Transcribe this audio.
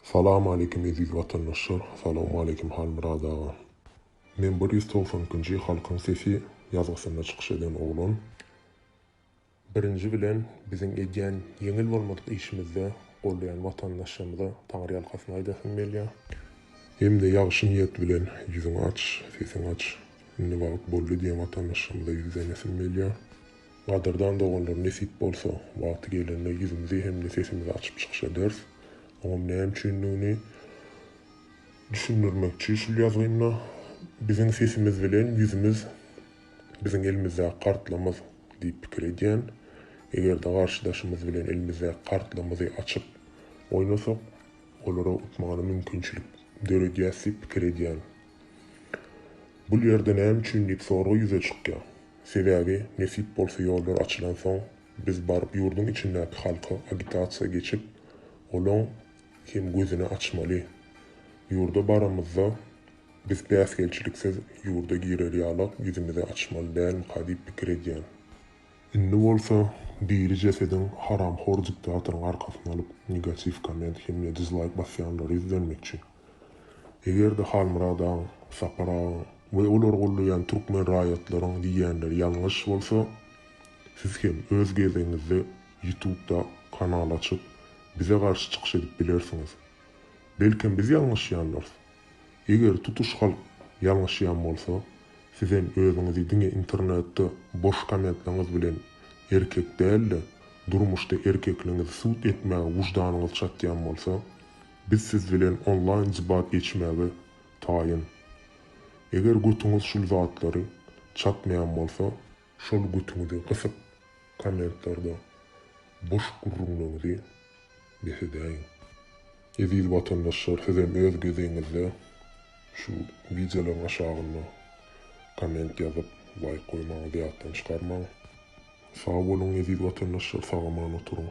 Salam aleýkim eziz watandaşlar Salawma aleýkim Halmyrat aga Men bir ýüz togsan ikinji Halkyň sesi ýazgysynda çykyş eden oglan Birinji bilen biziň edýän ýeňil bolmadyk işimizde goldaýan watandaşlarymyza taňryýalkasyn aýdasym gelýä. Hemde ýagşy niýet bilen ýüzüň aç sesiň aç indi wagt boldy diýen watandaşlarymyza ýüzlenesim gelýä. Gadyrdan doganlar nesip bolsa wagty gelende ýüzümizi hem-de sesimizi açyp çykyş ederis. Oňam näme üçindigini düşündirmekçi şul ýazgymda Biziň sesimiz bilen ýüzümiz biziň elimizdäki kartlamyz diýip pikir edýän. Egerde garşydaşymyz bilen elimizdäki kartlamyzy açyp oýnasak olara utmagyna mümkinçilik döredýäs diýip pikir edýän. Bul ýerde näme üçin diýip sorag ýüze çykýar. Sebäbi nesip bolsa ýollar açylansoň biz baryp ýurduň içindäki halka agitasiýa geçip olaň hem gözüni açmaly. Ýurda baramyzda biz päsgelçiliksiz ýurda girer ýalak ýüzümizi açmaly dälmika diýip pikir edýän. Indi bolsa diri jesediň haramhor diktatoryň arkasyny alyp negatiw komment hemde dizlaýk basýanlary ýüzlenmekçi. Eger-de Halmyrat agaň, Sapar agaň we olary goldaýan türkmen raýatlaryň diýýänleri ýalňyş bolsa, siz hem öz gezegiňizde ýutubda kanal açyp, bize garşy çykyş edip bilersiňiz. Belkem biz ýalňyşýandyrys. Eger tutuş halk ýalňyşýan bolsa, sizem özüňizi diňe internetde boş kommentlaňyz bilen erkek däl-de, durmuşda erkekligiňizi subut etmäge wujdanýyňyz çatýan bolsa, Biz siz bilen onlaýn debat geçmäge taýyn. Eger götüňiz şul zatlary çatmaýan bolsa, şol götüňizi gysyp kommentlarda boş gürrüňleňizi bes edäýiň. Eziz watandaşlar sizem öz gezegiňizde şu wideolaryň aşagynda komment ýazyp laýk goýmaňyzy ýatdan çykarmaň. Sag boluň eziz watandaşlar sagaman oturyň.